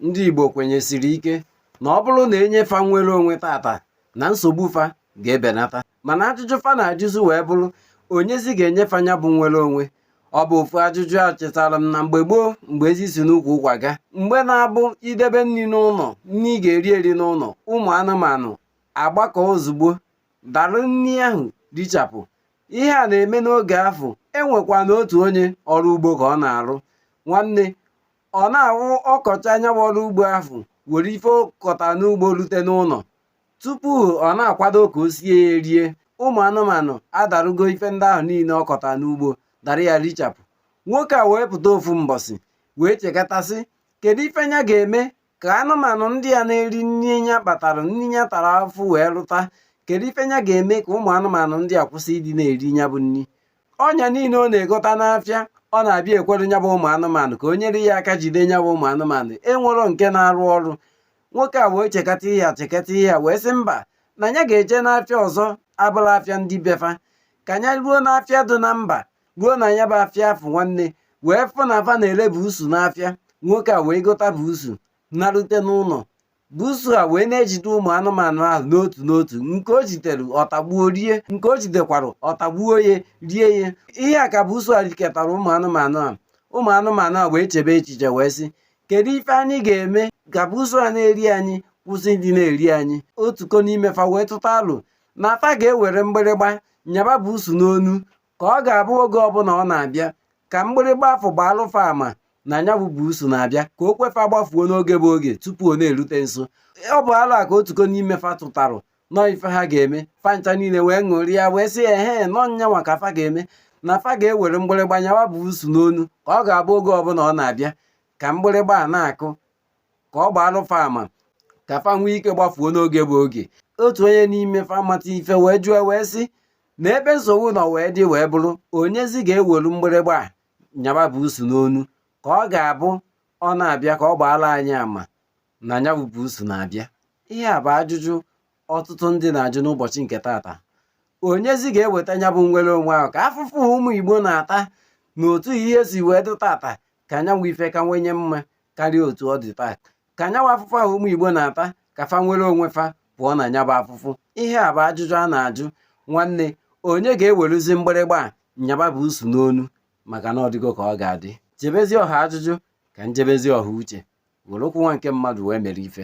ndị Igbo kwenyesiri ike na ọ bụrụ na e nye fa nwere onwe tata na nsogbu fa ga-ebenata mana ajụjụ fa na-ajụzi wee bụrụ onyezi ga-enye fa nya bụ nwere onwe ọ bụ ofu ajụjụ echetara m na mgbe gboo mgbe ezi si n'ukwu ụkwa ga mgbe na-abụ i debe nni n'ụnọ nni ị ga-eri eri n'ụnọ ụmụ anụmanụ agbakọ ozugbo dara nni ahụ richapụ ihe a na-eme n'oge afụ e nwekwanụ otu onye ọrụ ugbo ka ọ na-arụ nwanne ọ na-awụ ọ kọchaa nya bụ ọrụ ugbo ahụ were ife ọ kọta n'ugbo rute n'ụnọ tupu ọ na-akwado ka o sie ya erie ụmụ anụmanụ adarugo ife ndị ahụ niile ọ kọta n'ugbo dara ya richapụ nwoke a wee pụta ofu mbọsị wee chekata sị kedu ife nya ga-eme ka anụmanụ ndị a na-eri nni nya kpatara nni nya tara afụfụ wee lụta kedu ife nya ga-eme ka ụmụ anụmanụ ndị a kwụsị ịdị na-eri nya bụ nri ọnya niile ọ na-egota n'afịa ọ na-abịa ekwere nya bụ ụmụ anụmanụ ka o nyere ya aka jide nya bụ ụmụ anụmanụ enwerọ nke na-arụ ọrụ nwoke a wee chekata ihe a chekata ihe a wee sị mba na nya ga-eje n'afịa ọzọ abụrọ afịa ndị be fa ka nya ruo n'afịa dị na mba ruo na nya bụ afịa afụ nwanne wee fụ na fa na-ere buusu n'afịa nwoke a wee gota buusu narute n'ụlọ buusu a wee na-ejide ụmụ anụmanụ ahụ n'otu n'otu nke o jidere ọ tagbuo rie nke o jidekwara ọ tagbuo ya rie ya ihe a ka buusu a riketara ụmụ anụmanụ a ụmụ anụmanụ a wee chebe echiche wee sị kedu ife anyị ga-eme ka buusu a na-eri anyị kwụsị ịdị na-eri anyị otuko n'ime fa wee tụta alo na fa ga-ewere mgbịrịgba nyaba buusu n'onu ka ọ ga-abụ oge ọbụla ọ na-abịa ka mgbịrịgba afụ gbaalụ fa ama na nya bụ buusu na-abịa ka o kwe fa gbafuo n'oge bụ oge tupu ọ na-erute nso ọ bụ alo a ka otuko n'ime fa tụtarụ na ọ ife ha ga-eme fa ncha niile wee ṅụrịa wee sị ya ehe na ọ nyanwa ka fa ga-eme na fa ga-ewere mgbịrịgba nyawa buusu n'onu ka ọ ga-abụ oge ọbụla ọ na-abịa ka mgbịrịgba a na-akụ ka ọ gbaalụ fa ama ka fa nwee ike gbafuo n'oge bụ oge otu onye n'ime fa mata ife wee jụọ wee sị na ebe nsogbu nọ wee dị wee bụrụ onyezi ga-ewelu mgbịrịgba a nyaba buusu n'onu ka ọ ga-abụ ọ na-abịa ka ọ gbaalụ anyị ama na nya bụ buusu na-abịa ihe a bụ ajụjụ ọtụtụ ndị na-ajụ n'ụbọchị nke tata onyezi ga-eweta nya bụ nwere onwe ahụ ka afụfụ ụmụ Igbo na-ata na otu ihe si wee dị tata ka nya bụ ife kawanye mma karịa otu ọ dị taa ka nya bụ afụfụ ahụ ụmụ Igbo na-ata ka fa nwere onwe fa pụọ na nya bụ afụfụ ihe a bụ ajụjụ a na-ajụ nwanne onye ga-eweruzi mgbịrịgba a nyaba buusu n'onu maka na ọ dịgo ka ọ ga-adị jebezi ọha ajụjụ ka m jebezi ọha uche were okwu nwa nke mmadụ wee mere ife